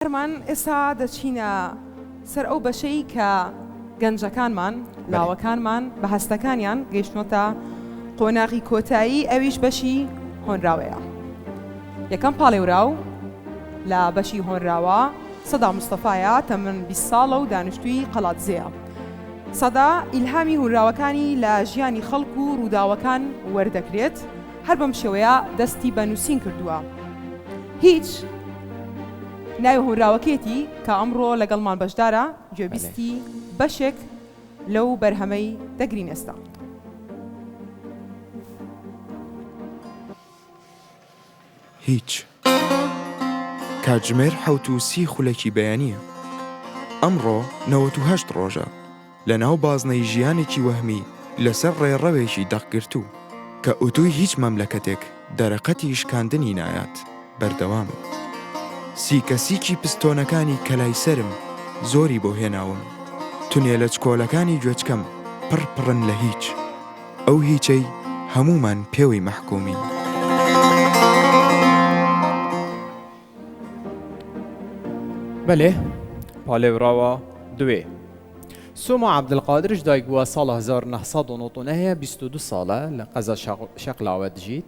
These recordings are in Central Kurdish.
هەرمان ئێستا دەچینە سەر ئەو بەشەی کە گەنجەکانمان، لاوەکانمان بە هەستەکانیان گەیشتنۆتە قۆناغی کۆتایی ئەویش بەشی هۆنراوەیە. یەکەم پاڵێوراو لە بەشی هۆنراوە سەدا مستەفایا تەمەن 20 ساڵە و دانیشتووی قەڵادزێیە. سەدا ئیلهامی هونراوەکانی لە ژیانی خەڵک و ڕووداوەکان وەردەگرێت، هەر بەم شێوەیە دەستی بە نووسین کردووە. هیچ، ناوی هۆنراوەکەیەتی کە ئەمڕۆ لەگەڵمان بەشدارە، گوێبیستی بەشێک لەو بەرهەمەی دەگرین ئێستا. هیچ. کاتژمێر حەوت و سی خولەکی بەیانییە. ئەمڕۆ نەوەت و هەشت ڕۆژە لەناو بازنەی ژیانێکی وەهمی لەسەر ڕێڕەوێکی دەقگرتوو، کە ئوتووی هیچ مەملەکەتێک دەرەقەتی شکاندنی نایات، بەردەوامم. سیکەسیکی پستۆنەکانی کەلای سەرم زۆری بۆ هێناوم. تونێلە چکۆلەکانی گوێچکەم پڕ پڕن لە هیچ. ئەو هیچەی هەموومان پێوەی مەحکومین. بەلێ پالێوراوە دوێ سۆما عەبدولقادرش دایکبووە ساڵە هەزار و نۆ سەد و نۆ و نە هەیە بیست و دوو ساڵە لە قەزا شەقڵاوە دژیت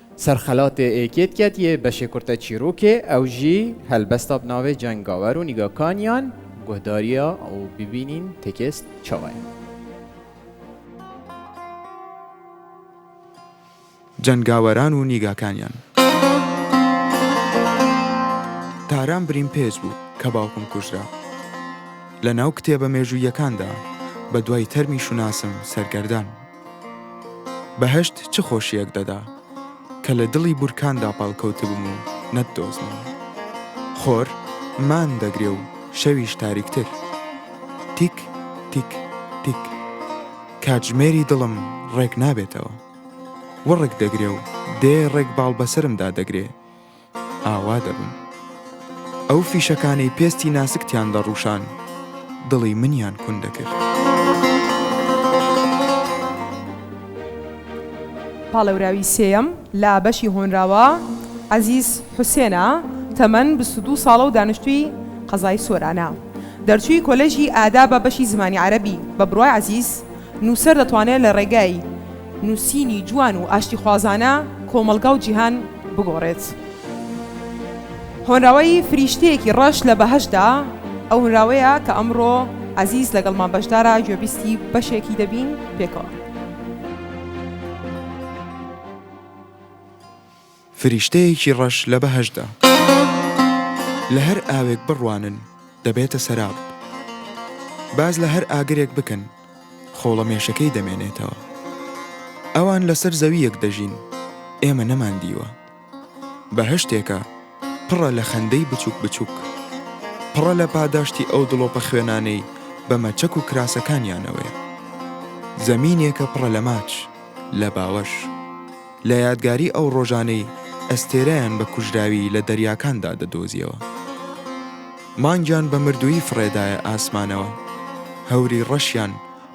سەرخەلاتێ ئێ کێت کەت یێ بەشێ کورتە چیرووکێ ئەو ژی هەلبەستا بناوێ جەنگاوەر و نیگاکانیان گوهداریا و ببینین تێکێست چاوەێ. جەنگاوەران و نیگاکانیان. تاران برین پێج بوو کە باوکم کوژرا. لە ناو کتێبە مێژووییەکاندا بە دوای تەرمی شوناسم سەرگەردان بوو. بەهەشت چ خۆشییەک دەدا. کە لە دڵی بورکاندا پاڵکەوتبم و نەتدۆزمەوە. خۆر مان دەگرێ و شەویش تاریکتر. تیک تیک تیک. کاتژمێری دڵم ڕێک نابێتەوە. وڕک دەگرێ و دێ ڕێک باڵ بەسەرمدا دەگرێ. ئاوا دەبن. ئەو فیشەکانەی پێستی ناسکتیان دەڕوشان دڵی منیان کون دەکرد. پاڵێوراوی سێیەم لە بەشی هۆنراوە عەزیز حوسێنە، تەمەن بیست و دوو ساڵە و دانیشتووی قەزای سۆرانە. دەرچووی کۆلێژی ئادابە بەشی زمانی عەرەبی، بە بڕوای عەزیز، نووسەر دەتوانێت لە ڕێگای نووسینی جوان و ئاشتیخوازانە کۆمەڵگا و جیهان بگۆڕێت. هۆنراوەی فریشتەیەکی ڕەش لە بەهەشتدا، ئەو هۆنراوەیە کە ئەمڕۆ عەزیز لەگەڵمان بەشدارە گوێبیستی بەشێکی دەبین پێکەوە. فریشتەیەکی ڕەش لە بەهەشتدا. لە هەر ئاوێک بڕوانن، دەبێتە سەراب. باز لە هەر ئاگرێک بکەن، خۆڵەمێشەکەی دەمێنێتەوە. ئەوان لەسەر زەوییەک دەژین، ئێمە نەماندیوە. بەهەشتێکە پڕە لە خەندەی بچووک بچووک. پڕە لە پاداشتی ئەو دڵۆپە خوێنانەی بە مەچەک و کراسەکانیانەوەیە. زەمینێکە پڕە لە ماچ، لە باوەش. لە یادگاری ئەو ڕۆژانەی ئەستێرەیان بە کوژراوی لە دەریاکاندا دەدۆزیەوە. مانگیان بە مردوویی فڕێدایە ئاسمانەوە، هەوری ڕەشیان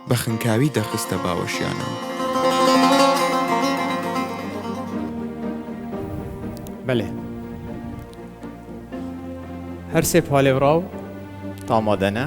بە خنکاوی دەخستە باوەشیانەوە. بەلێ. هەر سێ پالێوراو تامادەنە.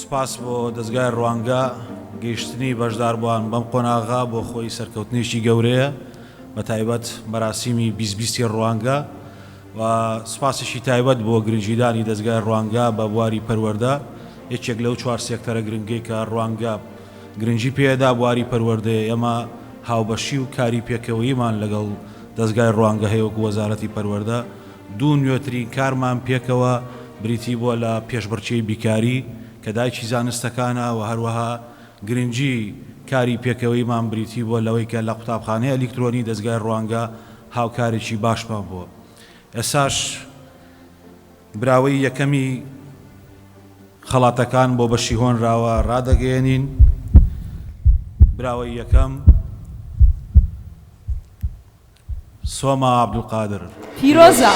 سوپاس بۆ دەزگای ڕوانگە، گەیشتنی بەشداربووان بەم قۆناغە بۆ خۆی سەرکەوتنێکی گەورەیە، بە تایبەت مەراسیمی بیست بیستی ڕوانگە و سوپاسێکی تایبەت بۆ گرنگیدانی دەزگای ڕوانگە بە بواری پەروەردە، یەکێک لەو چوار سێکتەرە گرنگەی کە ڕوانگە گرنگی پێدا بواری پەروەردەیە، ئێمە هاوبەشی و کاری پێکەوەییمان لەگەڵ دەزگای ڕوانگە هەیە وەکو وەزارەتی پەروەردە، دوو نوێترین کارمان پێکەوە بریتی بووە لە پێشبڕکێی بیکاری کە دایکی زانستەکانە و هەروەها گرنگی کاری پێکەوەییمان بریتی بووە لەوەی کە لە قوتابخانەی ئەلیکترۆنی دەزگای ڕوانگە هاوکارێکی باشمان بووە ئێستاش براوەی یەکەمی خەڵاتەکان بۆ بەشی هۆنراوە ڕادەگەیەنین براوەی یەکەم سۆما عبدالقادر پیرۆزە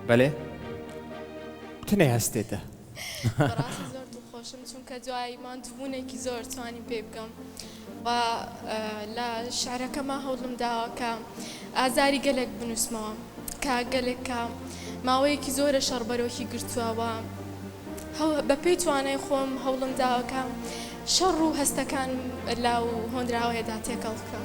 بەێ تنێ هەستێتە خۆشم چونکە دوای ماندبوونێکی زۆر توانیم پێ بکەم و لە شیعرەکەما هەوڵم داوە کە ئازاری گەلێک بنووسمەوە کە گەلێک کە ماوەیەکی زۆرە شەڕ بەرۆکی گرتووە و بە پێی توانای خۆم هەوڵم داوە کە شەڕ و هەستەکانم لە هۆنراوەیەدا تێکەڵ بکەم.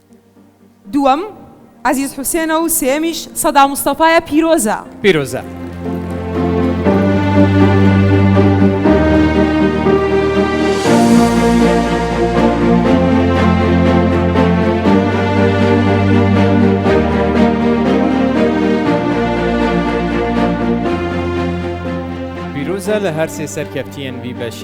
دووەم، عەزیز حوسێنە و سێیەمیش، سەدا مستەفایە پیرۆزە. پیرۆزە. لە هەر سێ سەرکەفتیەن بی بەشی.